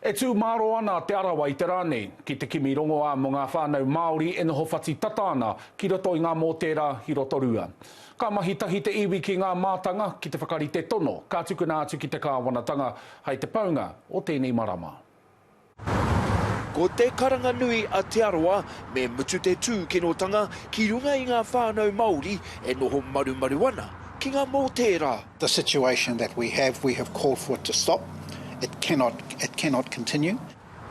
E tū māro ana Te Arawa i te rā nei ki te kimi rongoā mō ngā whānau Māori e noho whati tata ana ki roto i ngā mōtēra ki Rotorua. Ka mahi tahi te iwi ki ngā mātanga ki te whakarite tono, ka tukuna atu ki te kāwanatanga hai te paunga o tēnei marama. Ko te karanga nui a Te Arawa, me mutu te tūkinotanga ki runga i ngā whānau Māori e noho marumaru ana ki ngā mōtēra. The situation that we have, we have called for it to stop, it cannot, it cannot continue.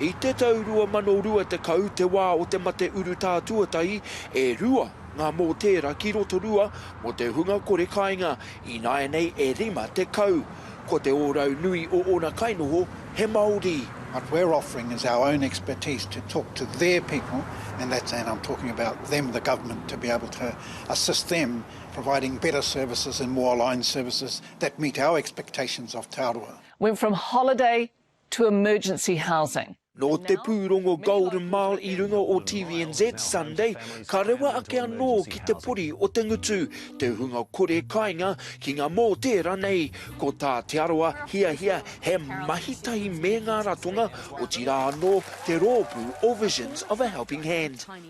I te tau 2020 te wā o te mate urutā tuatahi e rua ngā mōtēra ki Rotorua mō te hunga kore kāinga, ināianei e 50. Ko te ōrau nui o ōna kainoho he Māori. What we're offering is our own expertise to talk to their people and that's, and I'm talking about them, the government, to be able to assist them providing better services and more aligned services that meet our expectations of Te Arawa. Went from holiday to emergency housing. Nō te pūrongo Golden Mile i runga o TVNZ Sunday, ka rewa ake anō ki te pori o te ngutu, te hunga kore kainga ki ngā mōtē ranei. Ko tā Te Arawa hiahia he mahi tahi me ngā ratonga, otirā anō te rōpū o Visions of a Helping Hand.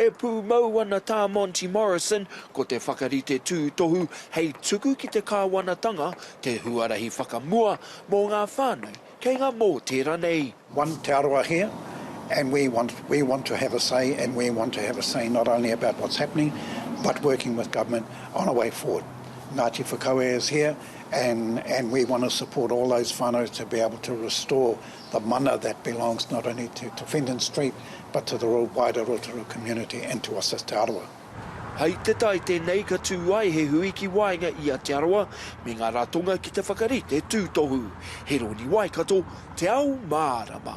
E pūmau ana tā Monty Morrison, ko te whakarite tūtohu hei tuku ki te kāwanatanga te huarahi whakamua mō ngā whānau kei ngā mōtē ranei. One Te Arawa here and we want we want to have a say and we want to have a say not only about what's happening but working with government on a way forward. Ngāti Whakaue is here and and we want to support all those whānau to be able to restore the mana that belongs not only to to Fendon Street but to the wider Rotorua community and to us as Te Arawa. Hai te tae tēnei ka tū ai he hui ki waenga i a Te Arawa me ngā ratonga ki te whakarite tūtohu. Heroni Waikato, Te Ao Mārama.